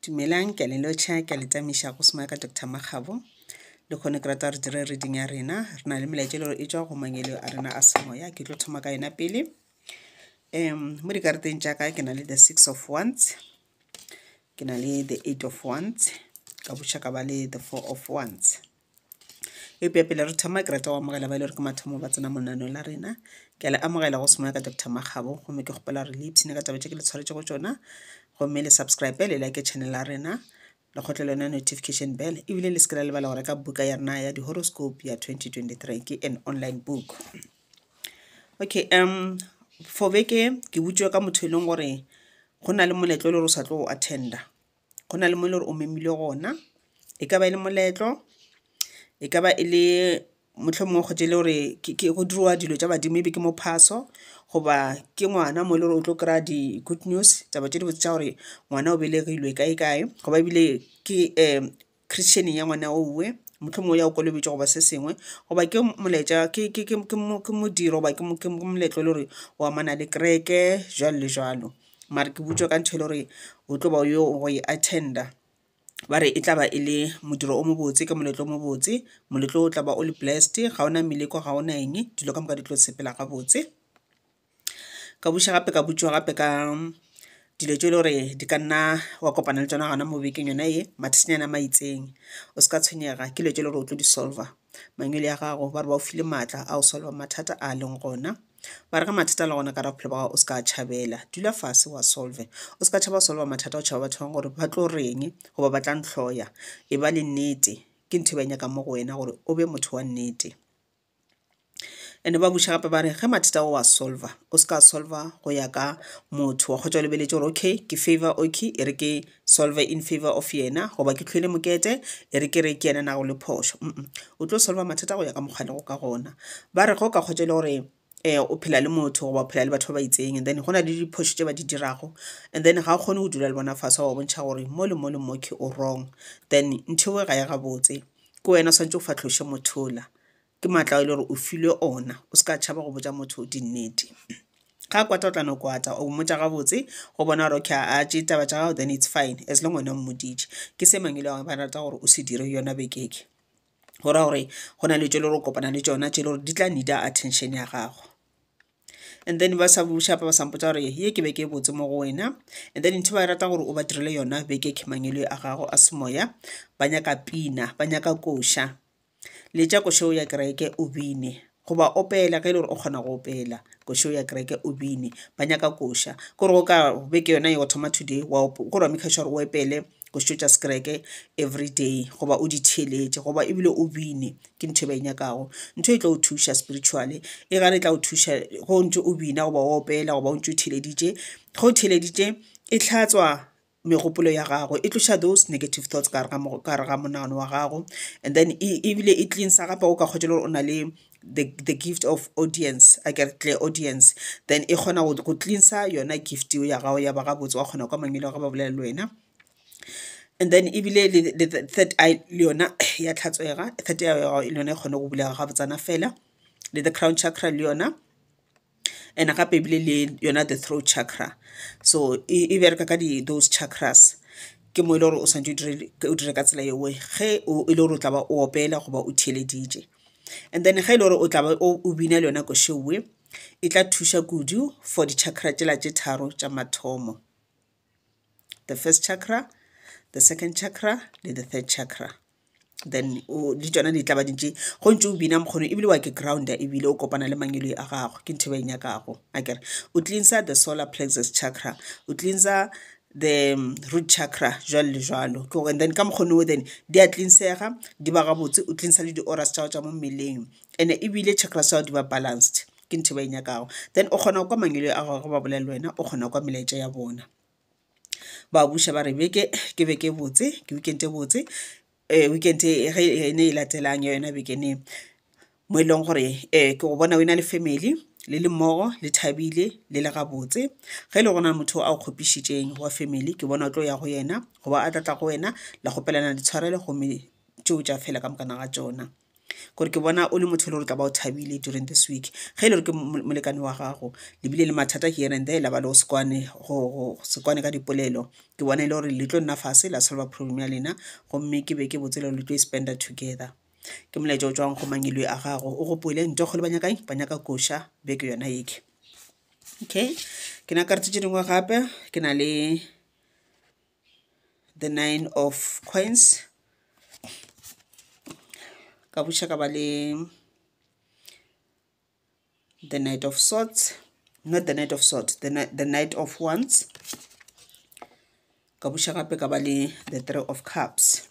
dumelang ke a le lotšha ke a le tamiša go soma ka dr makgabo le kgone ke rata gore dire reading ya rena re na le melaetša le gore e tswa go mangelo a rena a semoya ke tlo thoma ka yona pele um mo dikarateng tša ka ke na le the six of ones ke na le the eight of ones ka bošaka ba le the four of ones Eupša pele re thoma ke rata go amogela ba e le gore ke mathomo ba tsena monaneo la rena ke a le amogela go semoya ka dr makgabo gomme ke kgopela gore le ipshine ka taba tše ke le tshwaretšego tsona gomme le subscribe le like channel la rena le kgotle lona notification bell ebile le se ke la lebala go reka buka ya rena ya di-horoscope ya 2023 ke an online book okay um for beke ke butšwe ka motho e leng gore go na le moletlo e le gore o sa tlo go attenda go na le mo e le gore o memilwe gona, e ka ba e le moletlo, e ka ba e le mohlomongwe o kgethile gore go dirwa dilo tša badimo maybe ke mo phaso goba ke ngwana mo e le gore o tlo kry-a di-good news taba tše dibotse tša gore ngwana o belegilwe kae kae goba ebile ke . Christian-eng ya ngwana owe, mohlomongwe o ya go kolobetšwa goba se sengwe, goba ke molaetša, ke, ke, ke, ke mo- ke modiro goba ke mo- ke mo- ke moletlo e le gore o amana le kereke, jwalo le jwalo. Mare ke botša ka ntho e le gore o tlo ba o yo go e attend-a, ba re e tla ba e le modiro o mobotse, ke moletlo o mobotse, moletlo o tla ba o le blessed, ga o na meleko, ga o na eng, dilo ka moka di tlo sepela gabotse. Ka buša gape ka botšiwa gape ka dilo tše e le gore di ka nna wa kopana le tšona gona mo bekeng yona ye mathata a ma itseng. O se ka tshwenyega ke dilo tše e le gore o tlo di solver, mangwele a gago ba re ba go file matla a go solver mathata a leng gona. Ba re ge mathata a le gona ka gare ga bophelo ba gago o se ka tšhabela, dula fase wa solve. O se ka tšhaba go solver mathata o tšhaba batho ba bangwe gore ba tlo reng goba ba tla ntlhoya, e ba le nnete ke ntho e ba e nyakang mo go wena gore o be motho wa nnete. ene ba buša gape ba re ge mathata o a solver o se ka solver go ya ka motho wa kgotsa o lebeletše gore okay ke favor okay e re ke solver in favor of yena goba ke tlhoile mokete e re ke re ke yena na go le phošo o tlo solver mathata go ya ka mokgwa lego ka gona ba re ge o ka kgotsa e le gore um o phela le motho goba o phela le batho ba ba itseng and then go na le diphošo tse ba di dirago and then ga o kgone go dula le bona fase wa bontšha gore mo le mo le mo ke o wrong then ntho eo ga ya gabotse ke wena o swanetše o fatlhoše mothola Ke maatla ao e le gore o filwe ona. O se ka tšhaba go botša motho dinnete. Ga a kwata o tla no kwata, o mmotša gabotse go bona gore okay a tše taba tša gago then it's fine as long wena o mmoditše. Ke se mang e le ba rata gore o se dire yona beke e, go ra gore go na le tše e le gore o kopana le tšona tše e le gore di tla need-a attention ya gago. And then ba sa buša ba sa mpotša gore ye ke beke e botse mo go wena and then ntho e ba e rata gore o ba direle yona beke ke mangwele a gago a semoya, ba nyaka pina, ba nyaka koša. Letša košeo ya kereke o bine. Goba opela ge e le gore o kgona go opela košeo ya kereke o bine. Ba nyaka koša. Ke gore go ka beke yona ye wa thoma today wa go ra make sure gore o epele košo tša sekereke everyday goba o di theeletše goba e bile o bine ke ntho e ba e nyakago. Ntho e tlo o thuša spiritually e gare e tla o thuša ge o ntše o bina goba o opela goba o ntše o theeleditše ge o theeleditše e tlhatswa megopolo ya gago e tloša those negative thoughts ka gare ga monagano wa gago and then e, ebile e cleansa gape o ka kgotse le gore o na le the, the gift of audience a ke tle audience then e kgona go cleansa yona gift ya gago ya ba gabotse wa kgona kwa mangele wa ga ba bolela le wena and then ebile le the third eye le yona ya tlhatswega third eye ya gago le yona e kgone go bulega gabotsana fela le the crown chakra le yona and gape ebile le yona the throat chakra so e bereka ka those chakras ke mo e le gore o swanetše o dire ka tsela yeo ge e le gore o tla ba o opela goba o theeleditše and then ge e le gore o tla ba o bina le yona košeowe e tla thuša kudu for di-chakra tšela tše tharo tša mathomo the first chakra the second chakra le the third chakra then di tšona di tla ba di ntše go ntše o bina mokgole ebile wa ke ground-a ebile o kopana le mangwele a gago ke ntho e ba e nyakago a kere o cleanser the solar plexus chakra o cleanser the root chakra jwalo le jwalo ke gore then ka mokgone o then di a cleansega di ba gabotse o cleanser le di-auras tša gago tša mo mmeleng and-e ebile chakras tša gago di ba balanced ke ntho e ba e nyakago then o kgona go kwa mangwele a gago ge ba bolela le wena o kgona go kwa melaetša ya bona. ba buša ba re beke ke beke e botse ke weekend e botse weekend ge e ne e latelang ya yona beke ne mo e leng gore ke go bona o e na le family le le mmogo le thabile le le gabotse ge e le gona motho a o kgopišitšeng wa family ke bona o tlo ya go yena goba a tla tla go wena la kgopelana ditshwarelo gomme tšeo tša fela ka moka na ga tšona. kore ke bona o le motho e le gore tla ba o thabile during this week ge e le gore ke molekane wa gago lebile le mathata here and there la ba le go sekwane go sekwane ka dipolelo ke bona e le gore le tlo nna fase la solva problem ya lena gomme ke be ke botse le gore le tlo e spenda together ke molaetša o tswang go mangilwe a gago o gopole ntokgolo ba nyakang ba nyaka koša beke yona eke okay ke na karetse tše dingwe gape ke na le the nine of coins ka buša ka ba le the night of swords not the night of swords the, the night of wands ka buša gape ka ba le the three of cups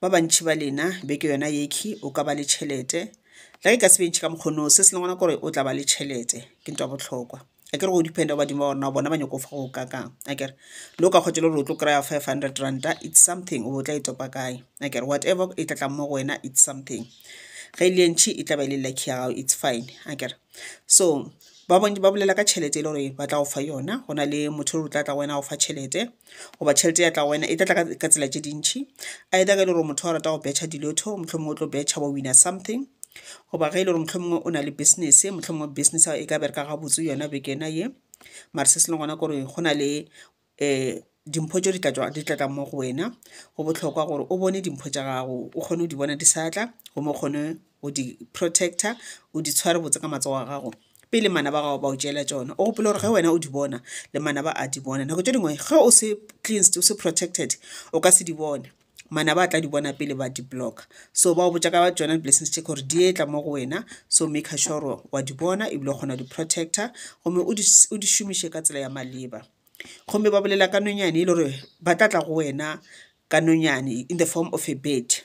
Ba bantši ba lena beke yona yekhi o ka ba le tšhelete la ke ka se bentšhe ka mokgono se se lengwana gore o tla ba le tšhelete ke ntwa botlhokwa a kere go dependa go badimo ba rona bona ba nyoko fa go ka kang a kere lo ka kgotse le gore o tlo kry-a five hundred ranta it's something o tla e topa kae a kere whatever e tla tlang mo go wena it's something ge e le entšhi e tla ba e le lucky ya gago it's fine a kere so ba bolela ka tšhelete e le gore ba tla go fa yona go na le motho o tla tla go wena go fa tšhelete goba tšhelete ya tla go wena e tla tla ka tsela tše dintšhi either ge e le gore motho wa rata go betšha dilotho mohlomongwe o tlo betšha wa wina something goba ge e le gore mohlomongwe o na le business mohlomongwe business e ka bereka gabotse yona bekena ye mare se se le gona kore go na le um dimpho tse di tlatla mo go wena go bohlokwa gore o bone dimpho tša gago o kgone go di bona di sa tla gomme o kgone o di protector, o di tshware botse ka matsogo a gago pele manaba a gago ba o tšeela tšona. O gopole gore ge wena o di bona le manaba a di bona. Nako tše dingwe ge o se cleansed, o se protected o ka se di bone, manaba a tla di bona pele ba di blocker. So ba go botša ka tšona di-blessings tše gore di etla mo go wena, so maker sure gore wa di bona ebile o kgona go di protector gomme o di šomiše ka tsela ya maleba. Gomme ba bolela ka nonyane e le gore ba tla tla go wena ka nonyane in the form of a bird.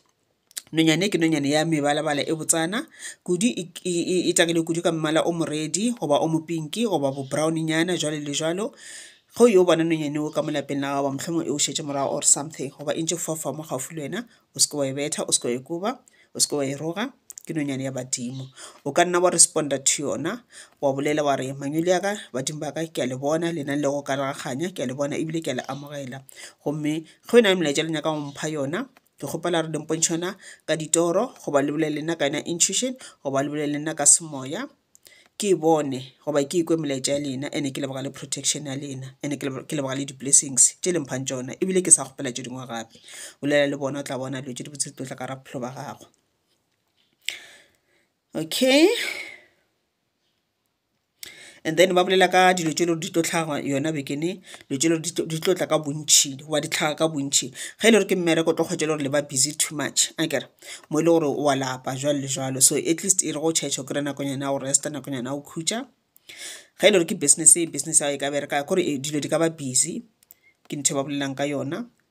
Nonyane ke nonyane ya mebalabala e botsana kudu, e tagilwe kudu ka mmala o moredi goba o mopinki goba bo brown-nyana jwalo le jwalo. Ge o yo bona nonyane o ka mo lapeng la gago mohlomong e go šetše morago or something goba e ntše fofa mo gaufi le wena, o se ke wa e betha, o se ke wa e koba, o se ke wa e roga, ke nonyane ya badimo. O ka nna wa respond-a to yona wa bolela wa re mangwele a ka, badimo ba ka ke a le bona le na le go ka raraganya ke a le bona ebile ke a le amogela. Gomme ge o na le molaetša le nyaka go mpha yona Ke kgopela re le mpontšhe yona ka ditoro goba le bolele nna ka yona intuition goba le bolele nna ka semoya ke e bone goba ke ikwe melaetša ya lena ene ke leboga le protection ya lena ene ke leboga le di-blessings tše le mphang tšona ebile ke sa kgopela tše dingwe gape bolela le bona o tla bona dilo tše di botse di tlo tla ka ra bophelo ba gago okay And then ba bolela ka dilo tše le gore di tlo hlaga yona bekene dilo tše le gore di tlo tla ka bontšhi goba di hlaga ka bontšhi ge e le gore ke mmereko o tlo kgwetša le gore le ba busy too much a kere mo e le gore wa lapa jwalo le jwalo so at least e re go church o kry-e nakonyana ya go resta nakonyana ya go khutša ge e le gore ke business business ya gago e ka bereka gore dilo di ka ba busy ke ntho e ba bolelang ka yona.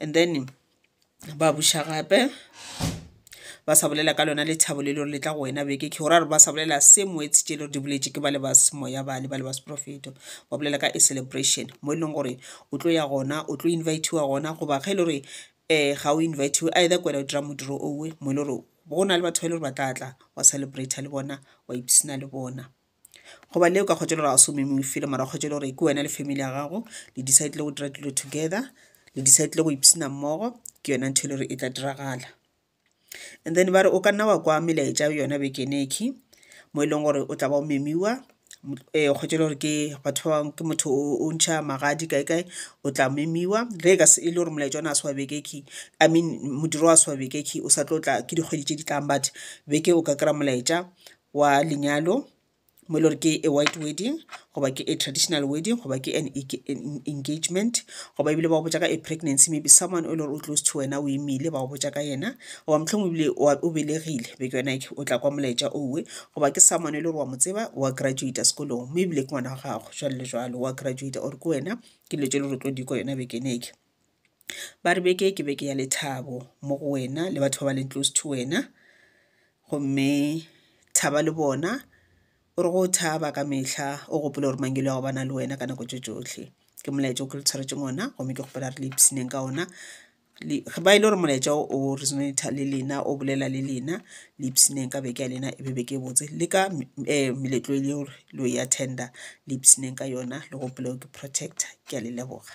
and then ba buša gape ba sa bolela ka lona lethabo le lore le tla go wena beke ke gore ba sa bolela se moetse tše le gore di boletše ke ba le ba semoya bale ba le ba seprofeto ba bolela ka a celebration mo e leng gore o tlo ya gona o tlo invitiwa gona goba ge e le gore um ga o invitiwe either kwena o dira modiro owe mo e le gore go na le batho ba e le gore ba tla tla wa celebrata le bona wa ipsina le bona goba le o ka kgwetša le gore ga se o meme o fele mara kgwetša le gore ke wena le family ya gago le decidile go dira dilo together le decidile go ipshina mmogo ke yona ntho e le gore e tla diragala and then ba re o ka nna wa kwa melaetša yona bekeneki mo e leng gore o tla ba o memiwa um kgwetša le gore ke batho ba bangwe ke motho o ntšha magadi kae kae o tla memiwa ge e ka se e le gore molaetša ona a se wa bekeki i mean modiro wa se wa bekeki o sa tlo tla ke dikgwedi tše di tlang but beke o ka kry-a molaetša wa lenyalo mo e le gore ke a white wedding goba ke a traditional wedding goba ke an engagement goba ebile ba go botša ka a pregnancy maybe someone o e le gore o close to wena o imile ba go botša ka yena goba mohlomong ebile o belegile be ke yona o tla kwa molaetša owe goba ke someone e le gore wa mo tseba wa graduata sekolong mo ebile ke ngwana wa gago jalo le jalo wa graduata or ke wena ke dilo tse le gore tlo di kwa yona bekeneke Ba re beke ke beke ya lethabo mo go wena le batho ba ba leng close to wena gomme thaba le bona o re go thaba ka mehla o gopole gore mangelo a go bana le wena ka nako tše tšohle ke molaetša o ke le tshwaretseng ona gomme ke kgopela re le ipshineng ka ona ba e le gore molaetša o resonator le lena o bolela le lena le ipshineng ka beke ya lena e be beke e botse le ka um meletlo e le gore lo e attender le ipshineng ka yona le gopoleo ke protector ke a le leboga.